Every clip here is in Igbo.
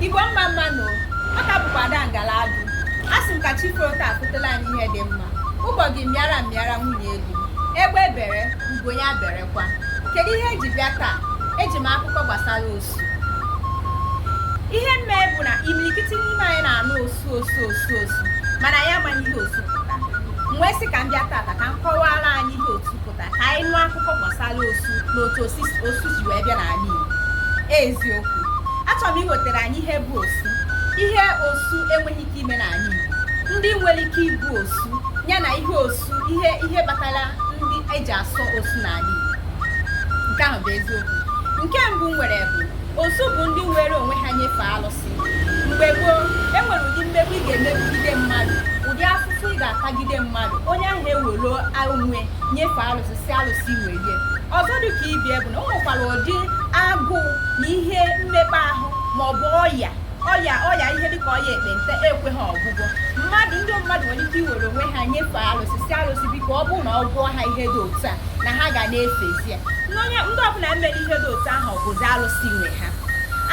Igbo mma mma nụ ọ ka bụkwa ada ngala adụ a sị m ka chi foro taa akutela anyị ihe dị mma ụgbọgụ mịara m mịara nwunye elu egbe bere ugo ya berekwa kedu ihe eji bịa taa eji m akụkọ gbasara osu ihe mme bụ na imirikiti n'ime anyị na-anụ osu osu osu osu mana ya amaghị ihe osu pụta m wee sị ka m bịa tata ka m kọwara anyị ihe osu ka anyị nụ akụkọ gbasara osu na otu osu ji wee bịa n'ala Igbo eziokwu achọrọ m iwetara anyị ihe bụ osu ihe osu enweghị ike ime n'ala Igbo ndị nwere ike ịbụ osu ya na ihe osu ihe ihe kpatara ndị eji asọ osu n'ala Igbo nke ahụ bụ eziokwu nke mbụ wee bụrụ osu bụ ndị were onwe ha nyefee alụsị mgbe gboo e nwere ụdị mmegbu ị ga-emegide mmadụ ụdị afụfụ ị ga-atagide mmadụ onye ahụ ewelụ onwe nyefee alụsị sị alụsị welie ọzọ dị ka ibe ya bụ na o nwekwara ụdị agụụ na ihe mmekpa ahụ ma ọ bụ ọya ọya ọya ihe dịka ọya ekpenta ekweghị ọgwụgwọ mmadụ ndị mmadụ nwere ike iwere onwe ha nyefee alụsị sị alụsị biko ọ bụrụ na ọ gwọọ ha ihe dị otu a na ha ga na-efezi ya ndị ọbụla mere ihe dị otu ahụ bụzi alụsị nwe ha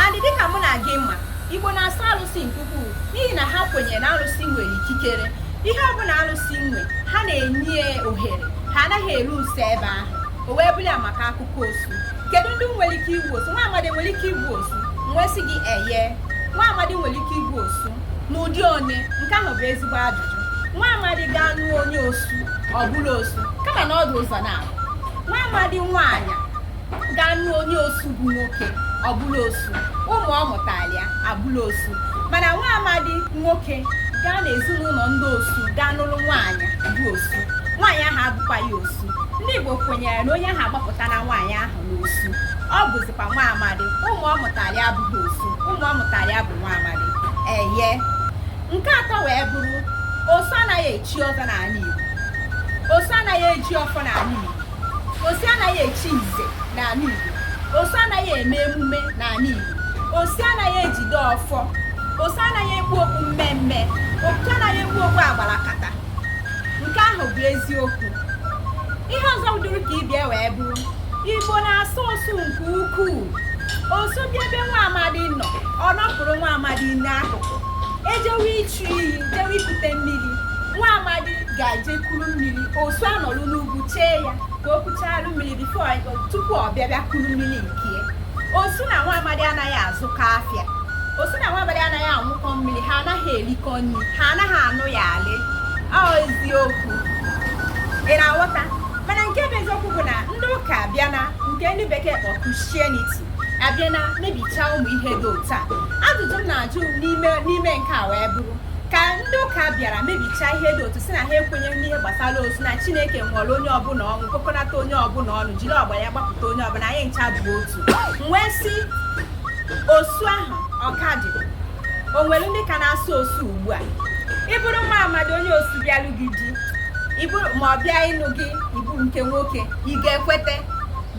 And dịka mụ na gị ma, Igbo na-asọ alụsị nke ukwuu n'ihi na ha kwenyere na alụsị nwere ikikere. Ihe ọbụla alụsị nwe, ha na-enye ya ohere, ha anaghị eru nso ebe ahụ. O wee bụrụ ya maka akụkọ osu. Kedu ndị nwere ike ịbụ osu? Nwa amadi nwere ike ịbụ osu? M wee sị gị eye. Nwa amadi nwere ike ịbụ osu n'ụdị one? Nke ahụ bụ ezigbo ajụjụ. Nwa amadi gaa nụọ onye osu, ọ bụrụ osu, kama na ọ dị ụzọ naabọ nwa amadi nwaanyị gaa nụọ onye osu bụ nwoke ọ bụrụ osu ụmụ ọ mụtara ya abụrụ osu mana nwa amadi nwoke gaa n'ezinụlọ ndị osu gaa nụrụ nwaanyị bụ osu nwaanyị ahụ abụkwaghị osu ndị igbo kwenyere na onye ahụ agbapụtana nwaanyị ahụ n'osu ọ bụzikwa nwa amadi ụmụ ọ mụtara ya abụghị osu ụmụ ọ mụtara ya bụ nwa amadi eye nke atọ wee bụrụ osu anaghị echi ọzọ n'ala igbo osu anaghị eji ọfọ n'ala igbo osu anaghị echi nze n'ala Igbo osu anaghị eme emume n'ala Igbo osu anaghị ejide ọfọ osu anaghị ekpu okpu mmemme osu anaghị ekpu okpu agbalakata nke ahụ bụ eziokwu ihe ọzọ dị ka ibe ya wee bụrụ igbo na-asọ osu nke ukwuu osu bịa ebe nwa amadi nọ ọ nọpụrụ nwa amadi n'akụkụ ejewe ịchụ ịchụ iyi jewe ikute mmiri nwa amadi ga-eje kuru mmiri osu anọlụ n'ugwu chee ya ka o kucharụ mmiri before tupu ọ bịa bịa kuru mmiri nke ya osu na nwa amadi anaghị azụkọ afịa osu na nwa amadi anaghị aṅụkọ mmiri ha anaghị erikọ nri ha anaghị anụ ya alị ọ eziokwu ị na-aghọta mana nke bụ eziokwu bụ na ndị ụka abịana nke ndị bekee kpọ Christianity abịana mebichaa ụmụ ihe dị otu a ajụjụ m na-ajụ n'ime nke a wee bụrụ ka ndị ụka bịara mebichaa ihe dị otu sị na ha ekwenyeghị n'ihe gbasara osu na chineke nwụrụ onye ọbụla ọnwụ kpokọnata onye ọbụla ọnụ jiri ọbara ya gbapụta onye ọbụla anyị ncha bụ otu m wee sị osu ahụ ọ ka dị o nwere ndị ka na-asọ osu ugbu a ị bụrụ nwa amadi onye osu bịalụ gị di ma ọ bịa ịnụ gị ị bụ nke nwoke ị ga-ekweta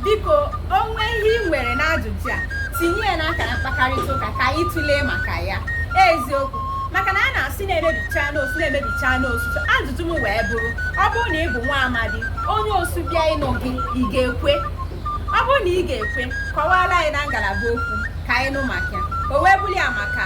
biko o nwee ihe i nwere n'ajụjụ a tinye ya n'akara mkpakọrịta ụka ka anyị tụlee maka ya eziokwu maka na a na-asị na e mebichana osu ajụjụ m wee bụrụ ọ bụrụ na ị bụ nwa amadi onye osu bịa ịnụ gị ị ga-ekwe ọ bụrụ na ị ga-ekwe kọwara anyị na ngalaba okwu ka anyị nụ maka ya o wee bụrụ ya maka